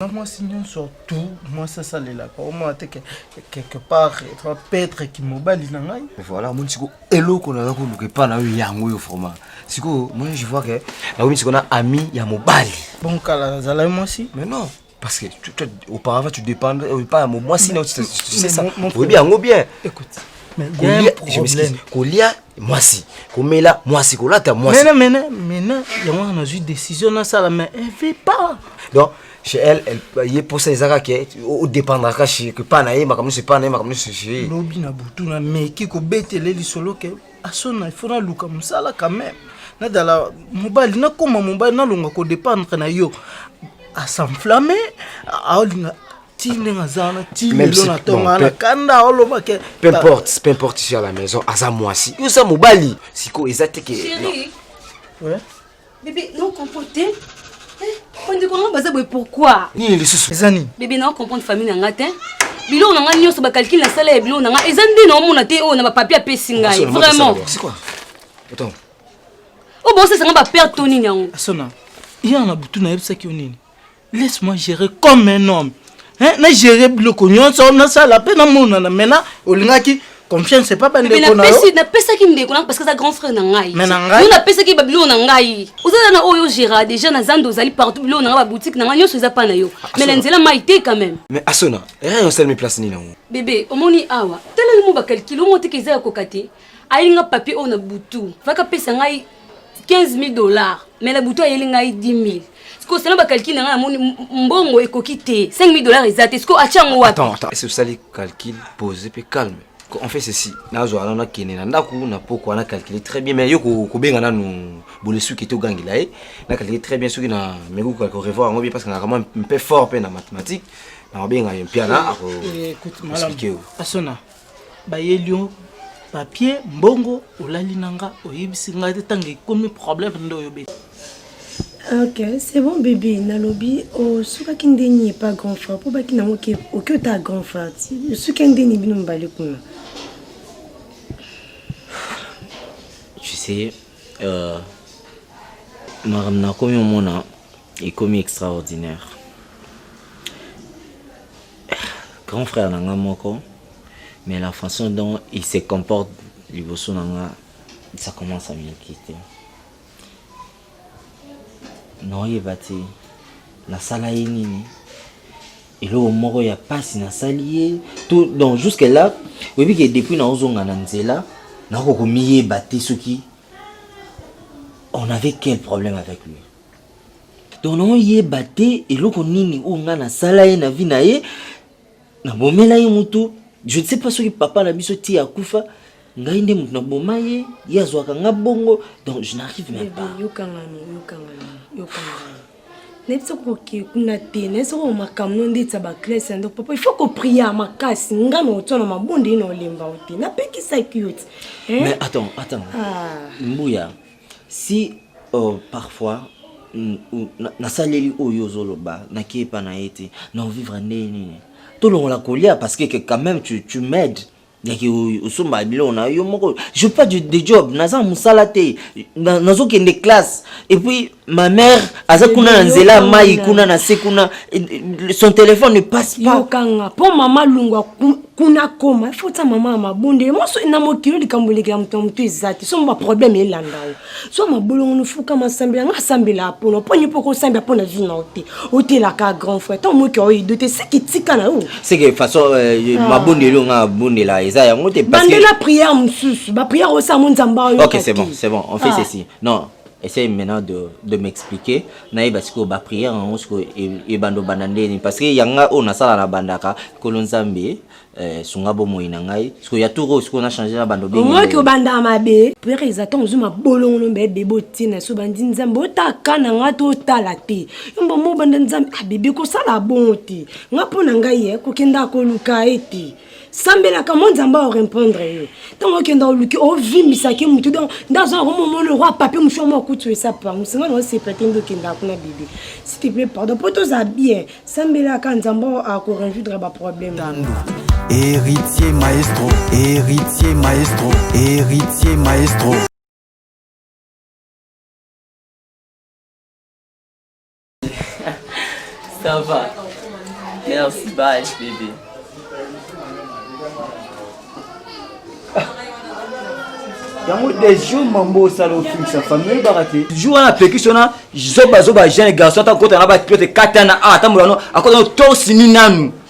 na mwasi nyonso tu mwasi asalelaka omona te quelque part etra petre kimobali na ngai voilà omoni siko eloko naza koluka epa na yo yango oyo vraiment sikoyo moi je vois ke nakomi siko na ami ya mobali bon kala nazalaki mwasi mais non parce que tu, tu, auparavant tu dépendre euh, pas mon moi sinon tu, tu, tu sais ça oyebi yango bien écoute kolia mwasi komela mwasi kolata mwasi mena mena mena yango wana nazwi décision nasala mais elle veut pas donc chez elle, elle ye posa ezaka ke odépendre kaka chez que pa na ye makambo nyonso epa na ye makambo nyonso chez ye lobi na butu na meki kobetele lisolo ke asona ifo naluka mosala quand même nadala mobali nakoma mobali nalonga kodépendre na yo asenflamme aolinga ti ndenge aza wana ti lelo na tonga na kanda oloba ke peu importe peu importe sur la maison aza mwasi yo oza mobali sikoyo eza te ke bebe no comprendre te bandeko yango baza boye pourkui nini lisusu eza nini bebe na comprendre famille na nga te biloko na nga nyonso bakalkile na sala ya biloko na nga eza nde na omona te oyo na bapapie apesi ngai vraiment oyo bosesanga baperte to nini yango asona yana na butu nayebisaki yo nini laisse moi gérer comme un homme hein? na gérer biloko nyonso nasala mpe namonana maintenant olingaki confiance epa bandeko na yo napesaki ndeko nanga parce que aza grand frère na ngai mais na ngai napesaki babiloko na ngai oza na oyo gérard déjà na zando ozali partout biloko na ngai baboutique na ngai nyonso eza pa na yo ah, mais na nzela mai te quand même mais asona rien osalemi place nini yango bebe omoni awa teleli mo bakalkile omo teke eza ya koka te ayelinga papier oyo na butu vaka pesa ngai 15000 dollars mais na butu ayeli ngai 10000 sikoyo sena bacalcule na ngai namoni mbongo ekoki te 5000 dollars eza te sikoyo atya yango wapi esi osali calcule pose mpe calme on fait ceci nazwa wana nakende na ndako na pokwa na calcule très bien mais yo kobenga nanu bolesuki te ogangela ye na calcule très bien soki na meko korevoir yango bien parce que nakamwa mpe fort mpe na mathématique na kobenga ye mpiana akoexplike yo bayelio papier mbongo olali na nga oyebisi ngai te ntango ekomi problème nde oyobeli ok c'est bon bébé nalobi osukaki oh, ndeni epa grand frère mpo baki nango oke ota grand frère osuki ndeni bino mibale kuna tu sais euh, makambo nakomi omona ekomi extraordinaire grand frère na nga moko mais la façon dont il se comporte liboso na nga ça commence à m'inquiéter naoyeba te nasala ye nini eloko moko ya mpasi nasali ye tout donc jusque là oyebi ke depuis naozonga na nzela nakoki komiyeba te soki on avait quel problème avec lui donc naoyeba te eloko nini oyo ngai nasala ye na vi na ye nabomela ye motu je ne sais pas soki papa na biso ti akufa ngai nde motu naboma ye ye azwaka nga bongo donc je n'arrive même pas nayebi soko oke kuna te nayebi soko makambo no ndeti ya baklase ya ndoko papa ifo kopria makasi nga na otya na mabondeli na olemba o te napekisaki yo te mais attends attends ah. mbuya si uh, parfois nasaleli oyo ozoloba nake epa na ye te na ovivre ndenge nini tolongola kolia parce que quand même tu, tu m'aides yaki osomba biloko na yo moko je pas de, de job naza na mosala te nazokende na classe et puis ma mère aza kuna na nzela mai kuna na se kuna son téléphone ne passe pas yokanga mpo mama lungu kuna koma il faut ta mama ya mabonde ye moso na mokili likambo elekela moto ya moto eza te somo baproblème elanda yo so mabolongo nofuka masambela nga asambela apona oponi mpo kosambela mpo na vi na yo te otelaka grand frère ntango moki oyedo te seke tika na yo seke façon euh, ah. mabonde elo nga abondela eza yango te bandela prière mosusu baprière oyo sa mo nzambe ayo ok c'est bon c'est bon on fait ah. ceci non essaye maintenant de, de m'expliquer nayeba sikoyo baprière yango sikoyo ebanda obanda nde nini parce que ya ngai oyo nasala na bandaka nkolo nzambe eh, sunga bomoi na ngai sikoyo ya tour oyo sikoyo na change na bando omoki obandaka mabe prière eza ntango ozwi mabolongono mbe bebe otina so bandi nzambe otaka na ngai to otala te yomba mo obanda nzambe abebe ah, kosala bongo te ngai mpo na ngai ye eh, kokendaka koluka ye te sambelaka mwa nzambe aorepondre yo ntango okenda oluki ovimbisaki motu don nde azwa yango momoni roi papier mosu yango akutu esapa yango singa nao sepla te nde okendaka kuna bebe siteple pardon mpo toza bien sambelaka nzambe akoresoudre baproblème héritier maestro héritier maestro héritier maestro Ça va. Merci, bye, bébé. yango des jours mambo osala ofingisa famille oyebaka te jour wana apekisi wana zobazoba jeune garçon ata kokota na baklote katana a atambola no akota no torsi ni nanu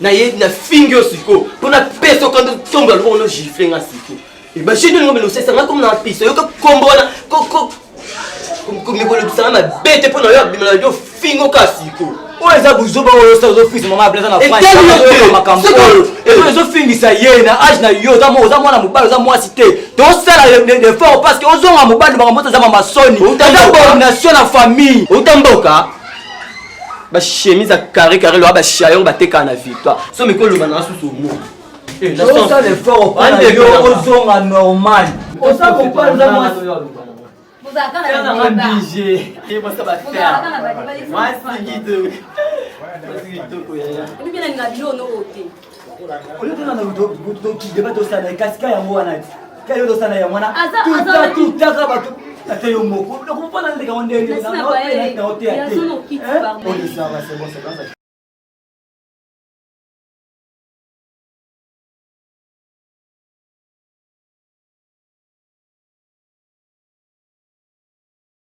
na ye na fingi yo siko mpo na pesa okando tombola loboko no gifle nga siko ebashini olingo belosesa nga komi na mpisa yoka kombo wana mikolobisa nga mabe te mpo na yo abimela yo fingo ka siko oyo eza buzoba oyo osa ozofingisa mama ableza na makambo oyo ezo ezofingisa ye na age na yo oza mwana mobali oza mwasi te tosala lefort parce que ozonga mobali makambo oyo eza mamasoni eza bomination na famille outa mboka ba chemise ya carré carré loa ba chayon batekaka na victoire so meko oloba nanga susu omoi eh, osala effort opona yo ozonga normal oza kopanza mwasi oyo tuna na tokideba tosala kasi ka yango wana ti ka yo tosala yango wana tuta tutaka bato ata yo moko nakopona ndeka ngo ndenge nao teya te odesaba sebosebasa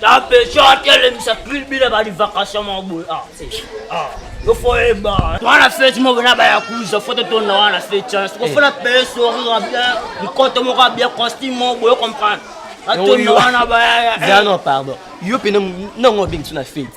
Tapecho atelemisa klibi na bali vacation mwa boye. Ah, ah. Yo fo eba. Twana fete moko na ba yakuza foto tona wana fete. Eh. Siko fona paye sourire bien, mikoto moko bien costume moko boye comprendre. Atona wana ba. Zano pardon. Yo pena nango bintu na fete.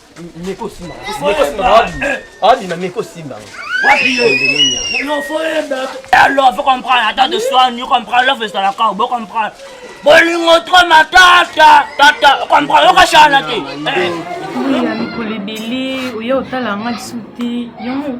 Meko simba. Meko simba. Adi na meko simba. Wapi yo? Non faut yenda. Alors faut comprendre attends de soi, ni comprendre love est la cause, faut comprendre. Bolingo trop ma tata, tata, comprendre yo kashana te. Oya mikolebele, oya otala nga lisuti. Yango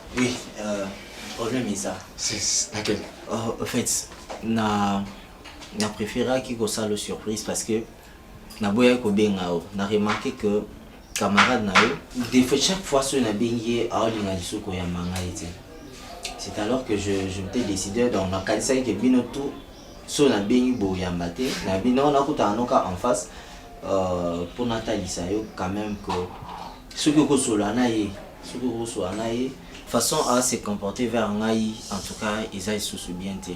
Oui, euh, problème est ça. C'est laquelle oh, En fait, na na préféraki kosala surprise parce que naboyaki kobenga yo na remarqué que camarade na yo de fait chaque fois soki nabengi ye aolinga lisusu koyamba ngai te c'est alors que je, je m'étais décidé donc nakanisaki ke bino tout soki nabengi boyamba te na bino nakutana noka en face euh, mpo natalisa yo quand même que soki okosolola na ye soki okosua na ye façon a se comporter vers ngai en tout cas eza lisusu bien te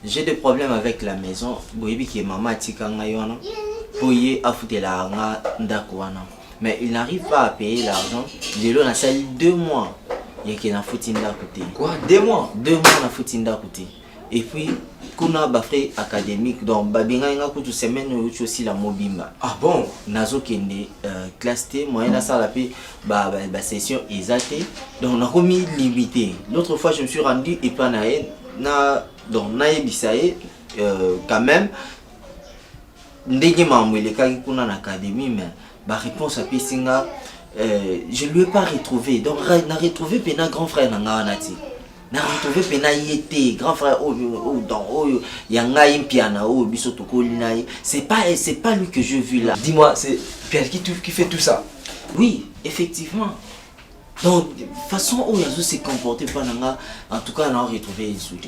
j'ai des problèmes avec la maison boyebi ke mama atika ngai wana mpo ye afutelaka nga ndako wana mais il n'arrive pas à payer l'argent lelo nasali deux mois yeke nafuti ndako te quoi deux mois deux mois nafuti ndako te et puis kuna ba frais académique donc babengaki nga kutu semaine oyo uti osila mobimba ah bon nazokende euh, classe te moyen nasala mpe basession ba, ba eza te donc nakomi limité l'autre fois je me suis rendu epa na ye na donc nayebisa ye euh, quand même ndenge makambo elekaki kuna na académie mais ba réponse apesi nga euh, je lui ai pas retrouvé donc na retrouvé pena grand frère na nga wana te na retrouve mpe na ye te grand frère oyo oh, oyo oh, donc oyo oh, ya ngai mpiana oyo biso tokoli na ye c'est pas c'est pas lui que je vu là dis moi c'est mpiana qui, qui fait tout ça oui effectivement donc façon oyo azo se comporter mpo na nga en tout cas na retrouve ye lisusu te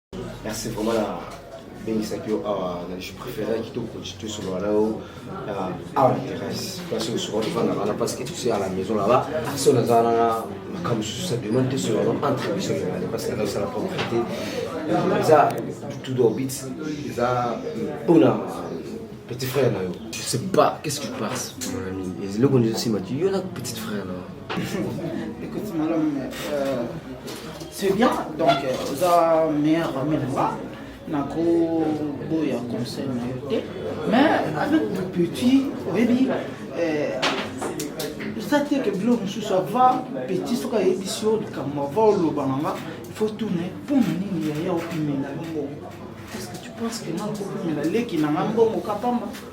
merci vraiment na bengisaki yo awa na je préféraki to constitue solola na yo awa na terrasse place oyo souvent tofanda wana parce que tosi à la maison là-bas so naza na makambo mosusu sa demande te solola no entre biso mibale parce que nazosala propriété eza tout d'orbite eza mpona petit frère na yo je sais pas qu'est-ce que tu penses mon ami eloko nizosima ti yo na petite frère na yo Écoute, madame, euh, c'est bien. Donc, euh, oza meilleur ami na nga. Nako boya conseil na yo te. Mais avec le petit, oyebi, euh, eza te ke bilo mosusu ava petit soki ayebisi yo likambo ava oloba na nga il faut tourne mpo na nini yaya opimela yo mbongo est ce que tu penses que nga nakopimela leki na nga mbongo kapamba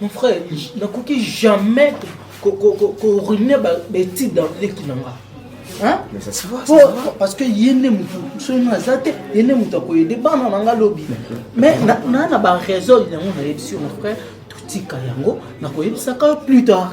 Mon frère, nakoki jamais koruine baétude ya leki na nga parce que ye nde motu soki nga aza te ye nde motu akoyede bana na nga lobi mais naa na baraison yango nayebisi yo mon frère totika yango nakoyebisaka yo plus tard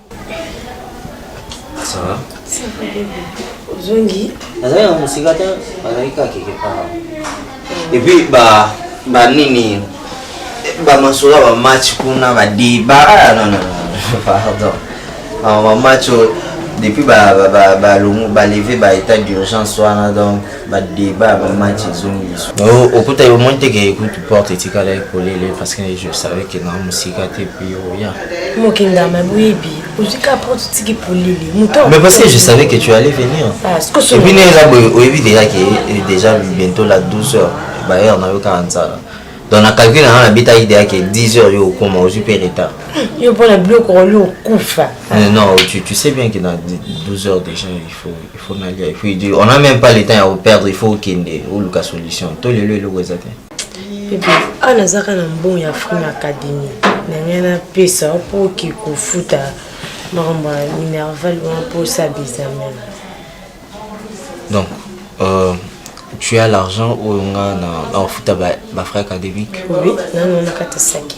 ozongi nazali na mosika te bazali kaka keke kaka epuis ba banini bamasolo ya bamatch kuna badeba ah, non non pardon bamatch oyo depuis balongo baleve ba état d'urgence wana donc ba débat ba match ezongi lisu okuta yo moni te ke ekutu porte etikala ekolele parce que je savais que na mosika te puis oya mokindama boyebi ozwi ka porte otiki polele moto mais parce que je savais que tu allais venir epuis ne eza boye oyebi déjà ke eh, déjà bientôt la 12 heures baheure na yo kaka nzala donc na calcule nanga nabetaki deya ke 10 heures yo okoma ozwi mpe retard hmm, yo mpo na biloko oli okufa eh, non tu, tu sais bien que na 12 heures déjà il faut faut nalia et puis on a même pas le temps ya koperdre il faut okende oluka solution to lelo eloko eza te bebe awa nazaka na mbongo ya frime académie na ngai napesa mpo oke kofuta makambo ya minerval wana mpo osala examen donc euh, tu as l'argent oyo nga na ofuta bafrais académique oui nano nakata saki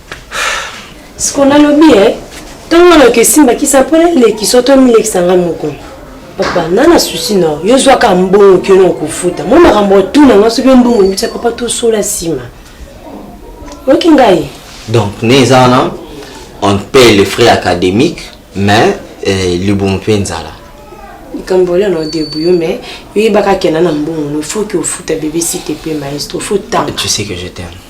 siko nalobi e ntango wana oke esimbakisa mpo nalekisa oto milekisa ngai moko papa na na susi na yo zwaka mbongo ke na okofuta mwa makambo otuna ngai soki mbongo ebisa papa tosola nsima oyoki ngai donc ne eza wana on paye le frais académique mais eh, libumu mpe nzala likambo olio na odebu yo mais yoyebaka kena na mbongo no faut ke ofuta bebe site mpe maestro faut tanga tu sais que je t'aime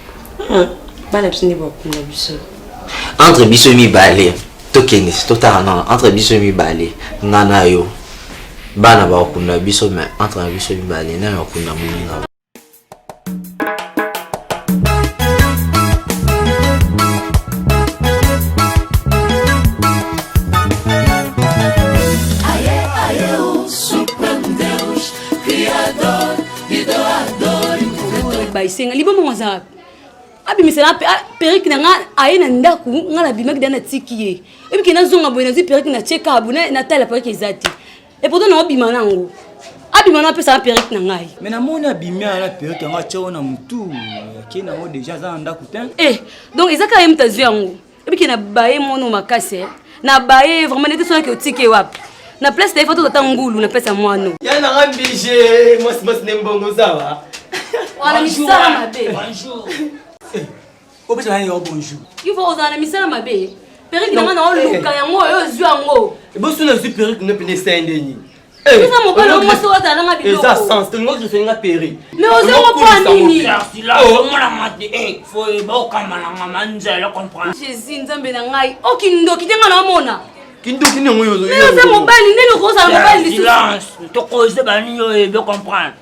Ah, bana biso nde bakunda biso entre biso mibale tokende totala nana entre biso mibale nga na yo bana bakunda biso mais entre biso mibale nani akunda moninga baisenga liboma ngo aza wapi abimisela perike na nga aye na ndako nga nabimaki da natiki ye ebike nazonga boye nazwi perike na chekabu natala perike eza te epoto na obima nango abima na apesa na perike na ngai me namoni abimi ana perike yango atya o na motu akei nango deja aza na ndako te eh, donc eza kaka ye moto azwi yango ebike na baye mono makasi eh. na baye vraiment nete sonaki otike wapi na place na ye foto tata ngulu na place ya mwano ya nanga mbije mwasi mwasi nde mbongo zawa wana misala mabe eh, opesa nani yo bonjour ivo ozala na misala mabe perike nanga na oluka eh. yango oyo ozwi yango ebosi nazwi perike nde mpende esende nini eza mobali oyo mwasi oyo azala nga biloko eza sens tolingo toseli nga peri me oza mokoa nini jésus nzambe na ngai o kindoki te nga namona kindoki niongo oyo oza mobali ndeni okozala mobali lisusu tokoze banini oyo ebe comprendre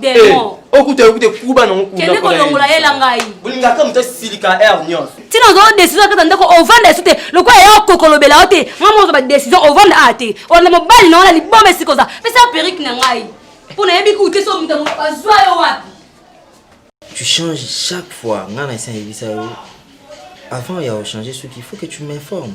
demon eh, okuta yokute kuba nango kende kolongola yela ngai bolingaka moto asilika aire nyonso ntina ozwa décision akata ndako ovanda esu te lokola ya okokolobela yo te ngai moko ozwa décision ovanda a te olanda mobali na wana liboma esika oza pesa perike na ngai mpo nayebi kuute so moto azwa yo wapi tu changes chaque fois ngai na esi ayebisa yo avant ya ochange soki il faut que tu m'informe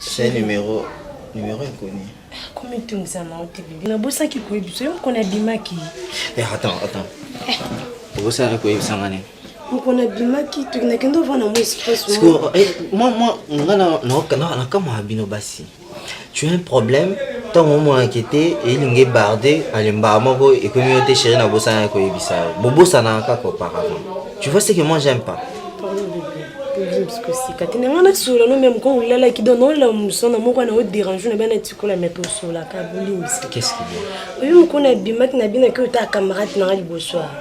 C'est numéro numéro inconnu. komitungisa na ote bibi nabosaki koyebisa yo mokona abimaki Eh, attends, attends. Obosala koyebisa nga nini? mokona abimaki tokendakende ovana mo espace Parce que, eh, moi, moi, nga na- na- na- nakamwa bino basi. tu as un problème ntango omonaka ete elingi ebarde alembaka moko ekomi yo te chéri na bosana ya koyebisa yo bobosanaka kaka auparavant tu vois ce que moi j'aime pas sikosika te nanga nasola no meme ko olalaki don naolela mosana moko na oderange na bana tikola me mpe osolaka bolimbisa oyo mokona abimaki na binaki oyo ta camarade nanga liboso